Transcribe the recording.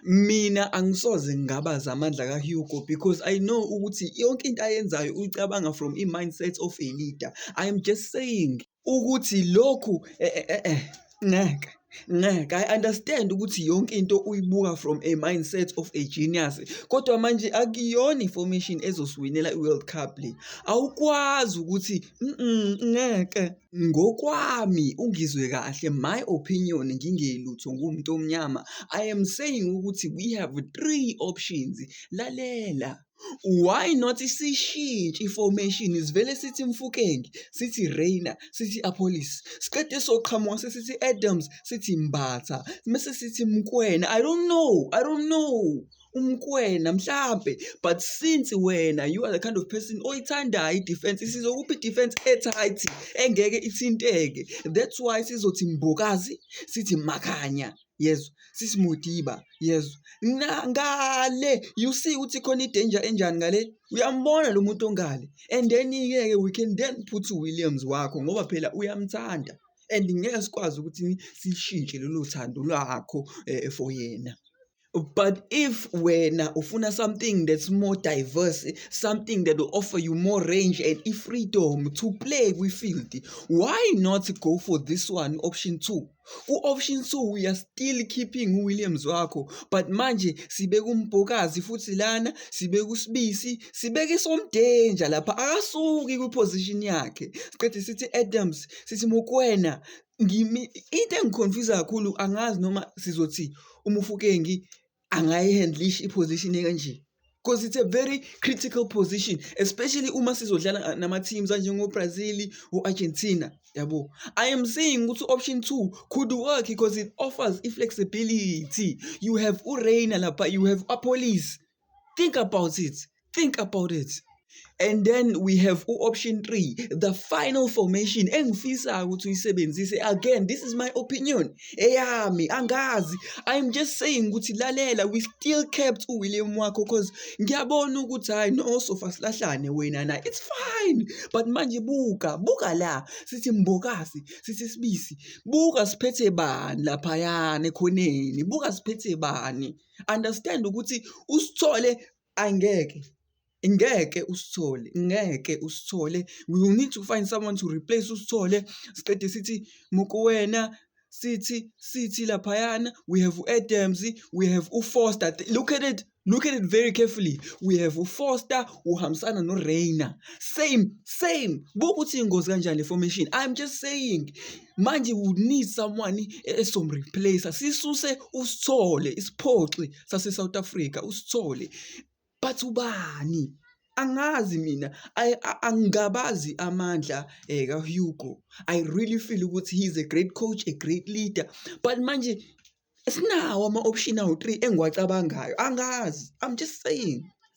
Mina angisoze ngingabaza amandla kaHugo because I know ukuthi yonke into ayenzayo uyicabanga from i-mindset of a leader. I am just saying ukuthi lokhu eh, eh, eh, eh ngeke ngeke i understand ukuthi yonke into uyibuka from a mindset of a genius kodwa manje akuyona i-formation ezosiwinela i-world cup le awukwazi ukuthi ngeke Ngokwami uNgizwe kahle my opinion ngingelutho ngiwumuntu omnyama I am saying ukuthi we have three options lalela why not sishintshe i-formation sivele sithi Mfukenge sithi Reina sithi Appolis siqede soqhamuka sesithi Adams sithi Mbatha mese sithi Mkwena I don't know I don't know umkwena mhlampe but since wena you are the kind of person oyithandayo i-defense sizokuphi i-defense etight engeke ithinteke that's why sizothi mbokazi sithi makanya yezwa sithi mudiba yezwa ngale you see ukuthi khona i-danger enjani ngale uyambona lo muntu ongale and then-ke we can then put williams wakho ngoba phela uyamthanda and ngeke sikwazi ukuthi sishintshe lolo thando lwakho um for yena But if wena ufuna something that's more diverse, something that will offer you more range and if freedom to play with field, why not go for this one option 2? Ku-option 2 we are still keeping uWilliams wakho but manje sibeka uMbokazi futhi lana sibeka uSibisi sibeka isomdanger lapha akasuki kwiposition yakhe siqede sithi Adams sithi Mokwena into engi-confuse-a kakhulu angazi noma sizothi uMofokeng angayi-handle-isha i-position ekanje cause it's a very critical position especially uma sizodlala nama-teams anjengo-Brazil o-Argentina yabo. I am saying ukuthi u-option two could work cause it offers i-flexibility, you have u-Rainer lapha, you have u-Appollis think about it think about it and then we have u-option three the final formation engifisayo ukuthi uyisebenzise again this is my opinion eyami angazi i'm just saying ukuthi lalela we still kept uwilliam wakho cause ngiyabona ukuthi hhayi no sofa silahlane wena na it's fine but manje buka buka la sithi mbokasi sithi sibisi buka siphethe bani laphayana ekhoneni buka siphethe bani understand ukuthi usithole angeke ngeke usithole ngeke usithole we need to find someone to replace usithole siqede sithi mukuwena sithi sithi laphayana we have u-adams we have ufoster look at it look at it very carefully we have ufoster uhambisana noreina same same bukuthi ingozi kanjani le formation i'm just saying manje you need someone esomreplacer sisuse usithole isiphoxi sase South Africa usithole but ubani angazi mina angabazi amandla eh ka Hugo i really feel ukuthi he is a great coach a great leader but manje sinawo ama option awu 3 engiwacabangayo angazi i'm just saying